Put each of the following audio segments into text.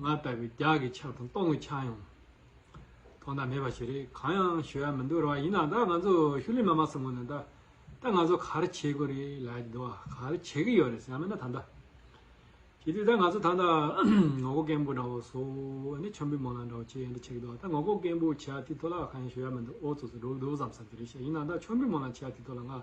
ང་ལྟ་བུའི་རྒྱགས་ཀྱི་ཆགས་དང་སྟོང་གི་ཆགས་ཡང་ཐོག་མཐའ་མེད་པ་ཞིག་རེད་གང་ཡང་ཞུ་ཡ་མི་འདུག་ར་བ་ཡིན་ན་ད་ང་ཚོ་ཤུགས་ལས་མ་མ་སོང་གོ་ན་ད་ད་ང་ཚོ་ག་རེ་བྱེད་དགོས་རེད་ལ་ཡི་འདུག་ག་རེ་བྱེད་ཀྱི་ཡོད་རེད་ཟེར་ཡ་མེད་ན་ད་ད་བྱེད་དུས་ད་ང་ཚོ་ད་ད་ངོ་ཀོ་རྐན་པོ་འདྲ་བོ་སོ་ཨ་ནི་ཆོམ་པི་མོ་ལ་འདྲ་བོ་བྱེད་ཡ་འདི་བྱེད་ཀྱི་འདུག་ད་ངོ་ཀོ་རྐན་པོ་བྱེད་ཡ་དེ་ཐོག་ལ་གང་ཡང་ཞུ་ཡ་མི་འདུག་ཨོ་ཙོ་ཙོ་འགྲོ་གི་འདུག་བསམ་ས་དེ་རེད་བཤད་ཡིན་ན་ད་ཆོམ་པི་མོ་ལ་བྱེད་ཡ་དེ་ཐོག་ལ་ང།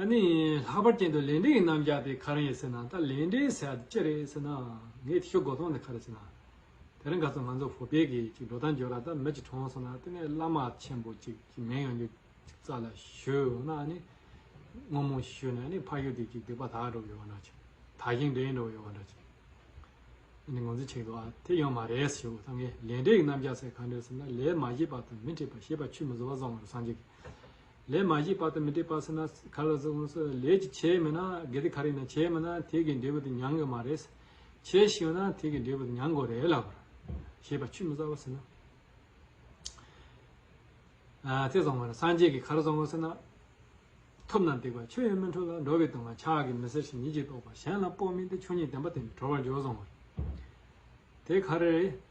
ཨ་ནི། ལྷག་པར་གྱེན་དུ་ལས་འབྲས་ཀྱི་རྣམ་གཞག་དེ་ག་རང་ཡིན་ཟེར་ན་ད་ལས་འབྲས་ཟེར་ཡག་དེ་ཅི་རེད་ཟེར་ན། ངའི་ཐེའུ་སྒོ་སྟོང་དེ་ག་རེད་ཟེར་ན། དེ་རིང་ག་ཚོད་ང་ཚོ་བོད་པས་གི་ཅིག་འགྲོ་སྟངས་འགྱོ་ར་ད་མི་ཅིག་གྲོངས་སོང་ན་དེ་ནས་བླ་མ་ཆེན་པོ་ཅིག་གི་མིང་ཡང་ཅིག་རྩ་ལ་ཞུས་འོང་ན་ཨ་ནི། སྔོན་མོ་ཞུས་ནས་ཨ་ནི་ཕ་ཞུ་དེ་ཅིག་སྡིག་པ་དག་འགྲོ་ཡོང་བ་འདྲ་ཅིག་དག་ཞིང་འདྲེན་འགྲོ་ཡོང་བ་འདྲ་ཅིག། ཨ་ནི་ངོ་ཚུལ་ཆེ་གི་བ་དེ་ཡང་མ་རེད་ཞུ་ད་ངས་ལས་འབྲས་ཀྱི་རྣམ་གཞག་ཟེར་ག་འདྲ་ཟེར་ན་ལས་མ་བཞེས་པ་དང་མི་འཁྲིད་པ་ཞེས་པ་ཆུད་མི་བཟོ་བ་བཟོ་ང་རོ་སངས་རྒྱས་ཀྱི་ལས་མ་བཞིའི་དཔག་ཏུ་མི་འཐད་པ་སེ་ན་ག་ལ་ཟེར་ཨོང་སོ་ལས་ཀྱི་བྱས་མེད་ན་གལ་ཏེ་ག་རེ་ན་བྱས་མེད་ན་དེ་གའི་འབྲས་བུ་དེ་མྱང་གི་མ་རེད། བྱས་ཤིག་ཡོད་ན་དེ་གའི་འབྲས་བུ་དེ་མྱང་དགོས་རེད་ལབ། ཞེས་པ་ཆུད་མི་ཟ་བ་ཟེར་ན། ཚེ་བཟང་བ་ལ་སངས་རྒྱས་ཀྱི་གར་བཟང་བ་ཟེར་ན། ཐོབ་ན་འདེགས་པ་ཆོས་ཡོད་མི་འཕྲོ་ལ་འགྲོ་བའི་དོན་ང་ཆགས་ཀྱི་མི་ཟེར་ཞིང་ཉིད་ཀྱིས་རྟོགས་པ་གཞན་ལ་དཔོག་མིན་ཏེ་ཆོས་ཉིད་བདེན་པ་དེ་གྲོལ་བར་འཇོག་བཟང་བ་རེད། དེ་ག་རེ་རེད།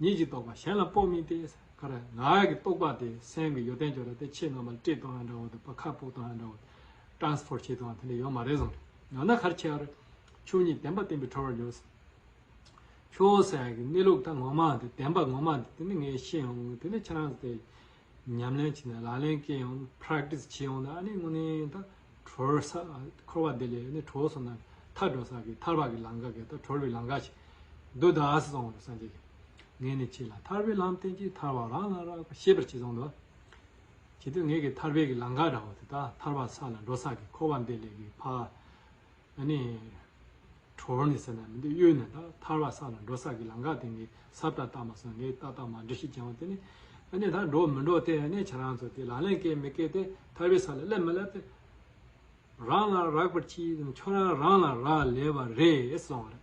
ཉིད་ཀྱིས་རྟོགས་པ་གཞན་ལ་དཔོག་མིན་ཏེ། ཀ་ར་ནག་གི་རྟོགས་པ་དེ་སེམས་ཀྱི་ཡོ་དན་སྦྱོར་བ་སྟེ་ཕྱེད་རྣམ་པ་ལ་དཀྲིས་གཏོང་ཡང་འདྲ་བོ་དང་བ་ཁ་ཕུག་གཏོང་ཡང་འདྲ་བོ། Transport བྱེད་གཏོང་ཡང་དེ་འདྲ་ཡོད་མ་རེད་བཟང། ཡང་ན་ཁར་ཆེ་བར། ཆོས་ཉིད་བདེན་པ་བརྟན་པའི་འཕྲོ་བར་འཇོག། ཆོས་ཟད་ཀྱི་གནས་ལུགས་ད་ངོ་མ་དེ་བདེན་པ་ངོ་མ་དེ་ནི་ངས་ཤེས་ཡོང་གི་དེ་ནི་ཁྱེད་རང་ཚོ་དེ། ཉམས་ལེན་བྱས་ནས་ལག་ལེན་སྐྱེལ་ཡོང་ན Practice བྱེད་ཡོང་ན་ཨ་ནི་དངོས་གནས་ད་གྲོལ་བ་སར་འཁོར་བ་འདི་ལས་ནི་གྲོལ་སོང་ན་ཐར་འགྲོ་ས་ཀྱི་ཐར་བ་ཀྱི་ལམ་ཀ་གི་ད་གྲོལ་བའི་ལམ་ཀ་ཞིག་འདུག་ད་གཟི་བཟང་བོ་སངས་རྒྱས་ངས་ནི་ཁྱེད་ལ་ཐར་བའི་ལམ་བསྟན་གྱིས་ཐར་བ་རང་ལ་རག་པ་ཤེས་པར་བྱས་སོང་དོ། གལ་ཏེ་ངས་ཀྱི་ཐར་པའི་ཀྱི་ལམ་ཀ་འདྲ་བོ་དེ་ད་ཐར་བ་ས་ལ་འགྲོ་ས་ཀྱི་འཁོར་བ་འདི་ལས་ཀྱི་ཕ། ཨ་ནི། གྲོ་བོ་ནི་ཟེར་ན་མི་འདུག་གཡོན་ནས་དག་ཐར་བ་ས་ལ་འགྲོ་ས་ཀྱི་ལམ་ཁ་དེ་ངས་ཟབ་དྲག་བརྟགས་མ་སོང་ངས་ཏག་ཏག་མ་འགྲོ་ཤི་རྐྱང་བ་དེ་ནི། ཨ་ནི་ད་འགྲོ་མི་འགྲོ་དེ་ཨ་ནི་ཁྱེད་རང་ཚོ་དེ་ལག་ལེན་སྐྱེལ་མི་སྐྱེལ་དེ་ཐར་བའི་ས་ལ་སླེབས་མི་སླེབས་དེ། རང་ལ་རག་པར་གྱིས་ཁྱོད་རང་རང་ལ་རག་ལས་པ་རེད་གསུངས་བ་རེད།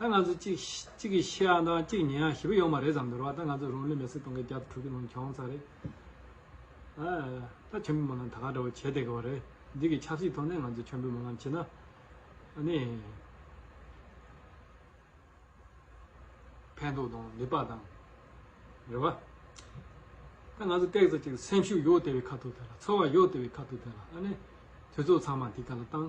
ད་ང་ཚོ་གཅིག་གིས་ཤི་ཡང་དང་གཅིག་ཉལ་ཡང་བཞི་པ་ཡོང་བ་རེད་བསམ་འདོད་རོགས་ད་ང་ཚོ་རང་ལུས་མེར་སྲེག་གཏོང་མཁན་བརྒྱ་དང་དྲུག་གི་ནང་གྱོང་ཚ་རེད། ད་མཆོད་འབུལ་མ་ལམ་ད་ག་འདྲ་བོ་བྱས་བསྡད་གི་བ་རེད་འདི་གི་ཆབ་སྲིད་ཐོག་ནས་ང་ཚོ་མཆོད་འབུལ་མ་ལམ་བྱེད་ན་ནི། ཕན་ཐོག་དང་ལེགས་པ་དང་རེད་བ། ད་ང་ཚོ་སྟེགས་བཟོ་གཅིག་སེམས་ཤུགས་ཡོད་དེ་བས་ཁ་ཐུག་དེ་ལ་ཚོར་བ་ཡོད་དེ་བས་ཁ་ཐུག་དེ་ལ་ཨ་ནི། དུས་ཚོགས་ཚང་མ་འདི་ག་ལ་བཏང།